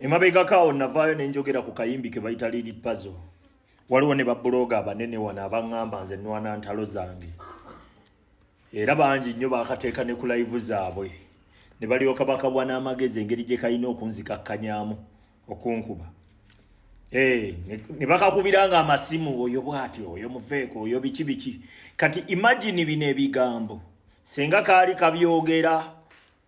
emabegako awo navaayo ne njogera ku kayimbi ke bayita liri pazo waliwo ne babuloga abanene wano abaŋŋamba nze nwana ntalo zange era bangi nnyo bakateeka ne ku layivu zaabwe ne balyoka bakabwa n'amagezi engeri gye kalina okunzikakkanyaamu okunkuba eh, ne bakakubira nga amasimu oyo bwati oyo muveeko oyo biki biki kati imagini bino ebigambo senga kaali kabyogera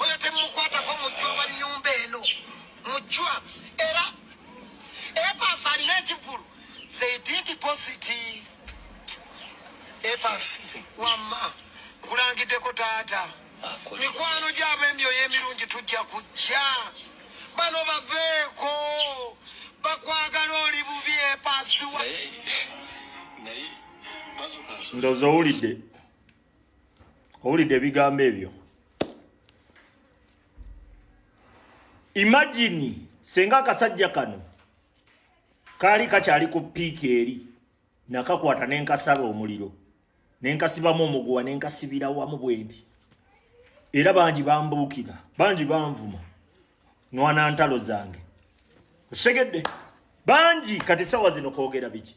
oyo temukwatako mujjwa wa nyumba eno mujjwa era epasi alina ekivulu zeididi positi epasi wamma nkulangiddeko taata mikwano gyabo emyoyo emirungi tujja kujja bano baveeko bakwagala oli bubi epasiwa ndoza owulidde owulidde ebigambo ebyo imagine senga akasajja kano kaali kakyali ku piiki eri nakakwata nenkasala omuliro nenkasibamu omuguwa nenkasibira wamu bwendi era bangi bambuukira bangi banvuma nwana ntalo zange osegedde bangi kati sawa zino kwogera biki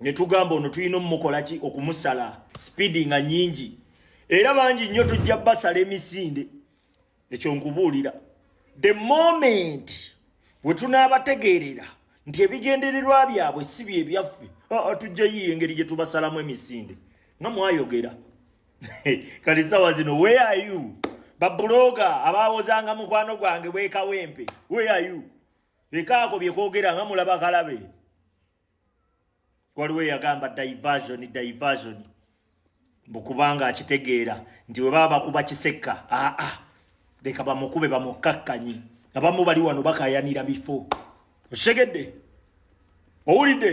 ne tugamba ono tulina omukola ki okumusala sipiidi nga nyingi era bangi nnyo tujja basala emisinde ekyo nkubuulira the moment we tunaabategeerera nti ebigendererwa byabwe si bye byaffe tujja yiiyo engeri gye tubasalamu emisinde nga mwayogera kati sawa zino where are you babuloga abaawozanga mukwano gwange bwekawempe where are you ekaako bye kwogera nga mulaba kalabe waliwo eyagamba diversion diversion mbu kubanga akitegeera nti bwe baba bakuba kisekka aa ah, ah, leka bamukube bamukkakkanye abamu bali wano bakayanira bifo okitegedde owulidde